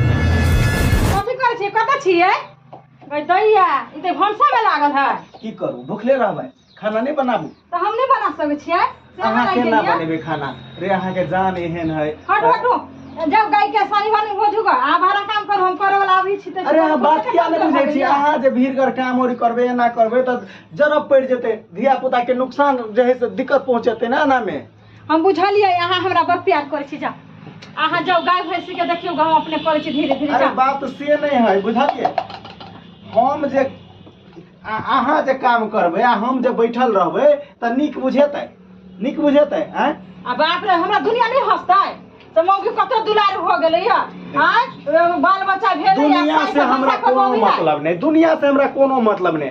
कथी करै छियै कतऽ छियै गै दैया ई तऽ भनसामे लागल है की करू भुखले रहबै खाना नहि बनाबू तऽ हम नहि बना सकै छियै से अहाँ हमरा केना लगैया। बनेबै खाना रे अहाँके जान एहन है हटू हटू जब गाय के सानी बन हो जुगा आ भरा काम कर हम करे वाला अभी छी तऽ अरे अहाँ बात किया नहि बुझै छी अहाँ जे भीड़ कर काम और करबै एना करबै तऽ जरब पड़ि जेतै धिया पुताके नुकसान जे है से दिक्कत पहुँचेतै ने एनामे हम बुझलियै अहाँ हमरा बड़ प्यार करै छी जा अहाँ जाउ गाय भैंसी के देखियौ गाँव अपने करै छी धीरे धीरे अरे जा बात से नहीं है बुझलिए हम जे आ- अहाँ जे काम करबै आ हम जे बैठल रहबै तऽ नीक बुझेतै नीक बुझेतै आँय आ बाप रे हमरा दुनिया नहीं हंसतै तो मौगी कतो दुलार हो गेलै या आय बाल बच्चा भेलै या दुनिया साइस से हमरा भैंसा कोनो कबौली है। मतलब नहीं दुनिया से हमरा कोनो मतलब नहीं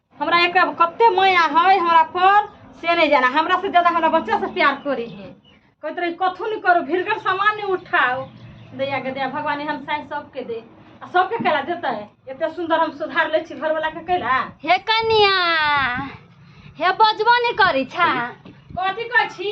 हमरा एक कते माया है हमरा पर से नहीं जाना हमरा से ज्यादा हमरा बच्चा से प्यार करे है कहते रही कथू नहीं करो भीड़कर सामान नहीं उठाओ दैया के दैया भगवान एहन साइंस सबके दे आ सबके कैला देता है एते सुंदर हम सुधार ले छी घर वाला के कैला हे कनिया हे बजबो नहीं करी छा कथी कहै छी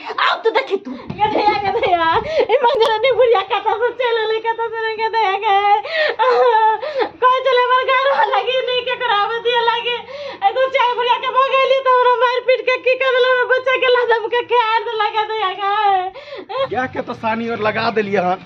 आओ तो देखी तू ये दया के दया ए मंगला ने बुढ़िया कथा से चले ले कथा से रंग दया के कोई चले मर घर लगी नहीं के करावे दिया लगे ए तो चाय बुढ़िया के भगेली तो हमरा मार पीट के की कर देला बच्चा के लादम के खेर लगा दया के क्या के तो सानी और लगा दिलिए हन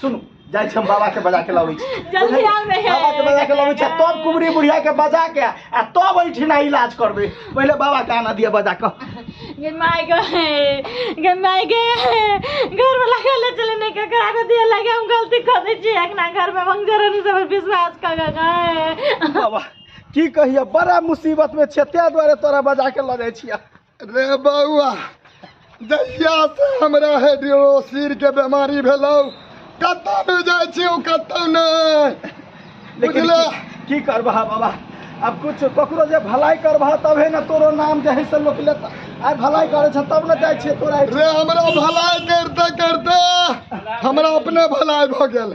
सुनू जाइ छी हम बाबा के बजा के लाबै छी जल्दी आउ ने। बाबा के बजा के लाबै छी तब कुबरी बुढ़िया के बजा के आ तब ओहिठिना इलाज करबै पहिले बाबा के आना दिया बजा के गे माय गे गे माय गे घर में लगा ले चले नहीं के करा के दिया लगे हम गलती कर दे छी एक ना घर में मंजर नहीं सब विश्वास कर गए बाबा की कहिया बड़ा मुसीबत में छै ताहि दुआरे तोरा बजा के लऽ जाइ छियै रे बौआ जहिया से हमरा हाइड्रोसिर के बीमारी भेलौ कतौ नहि जाइ छी ओ कतौ नहि लेकिन बुझलऽ की- की करबह बाबा अब कुछ ककरो जे भलाई करबह तबे ने तोरो नाम जे है से लोक लेता आइ भलाई करे छ तब ने जाइ छियै तोरा रे हमरा भलाइ करते करते हमरा अपने भलाइ भऽ गेल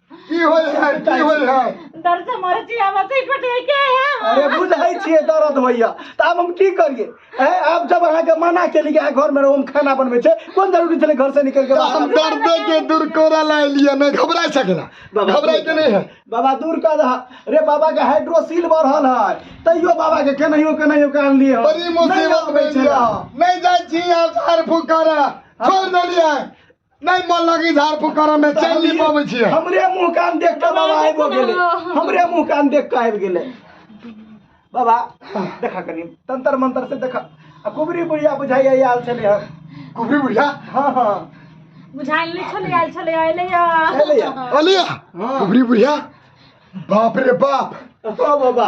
की होय है की होय है दर्द से मरे छी हम से कट गई के है अरे बुझाई छिए दर्द होइया त आब हम की करिए ए आब जब अहाँ के मना केली कि अहाँ घर में रहो हम खाना बनबै छै कोन जरूरी छले घर से निकल के बाहर हम दर्दे के दूर कोरा ला लिया नहीं घबरा सकेला बाबा, घबरा के नहीं है बाबा दूर कर दहा रे बाबा के हाइड्रोसील बढ़ल है तैयो बाबा के केनाहियो केनाहियो के आनलिए हन। बड़ी नहीं मुसीबत आबै में छलै। लिया नहीं जाय छी आप झाड़ फूक करा छोड़ देलिए नहीं मन लगी झाड़ फूक करे में चल नहीं पावे छिए हमरे मुंह कान देख के बाबा आइबो गेले हमरे मुंह कान देख के आइब गेले बाबा देखा कनी तंत्र मंत्र से देखा आ कुबरी बुढ़िया बुझाइया आयल छले हन कुबरी बुढ़िया हां हां बुझाइल नहीं छले आयल छले आइले या अरे यार अलिया हाँ। कुबरी बुढ़िया बाप रे बाप ओ बाबा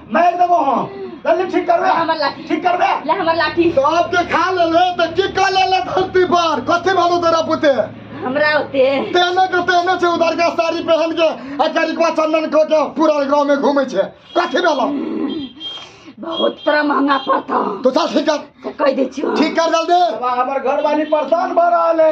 मारि देबो हम जल्दी ठीक करबे हमर लाठी। ठीक करबे ले हमर लाठी तो आप के खा ले ले तो की कर ले ले धरती पर कथी भालो तेरा पुते हमरा होते तेने के तेने से उधर के साड़ी पहन के आ करिकवा चंदन को के पूरा गांव में घूमे छे कथी भेलो बहुत तरह महंगा पड़ता तो चल ठीक कर कह दै छियो ठीक कर जल्दी बाबा हमर घर वाली परेशान भऽ रहल है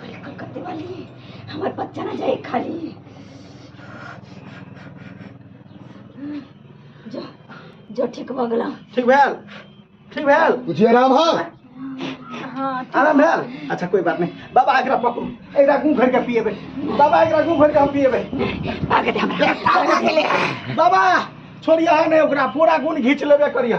कल कलकत्ते वाली हमार बच्चा ना जाए खाली जो जो ठीक हो गला ठीक भेल ठीक भेल कुछ आराम है हाँ आराम भेल अच्छा कोई बात नहीं बाबा एकरा पकड़ू एकरा घूम घर के पिएबे बाबा एकरा घूम घर के हम पिएबे आगे दे हमरा आगे ले बाबा छोड़िया है नहीं ओकरा पूरा गुण घींच लेबे करिया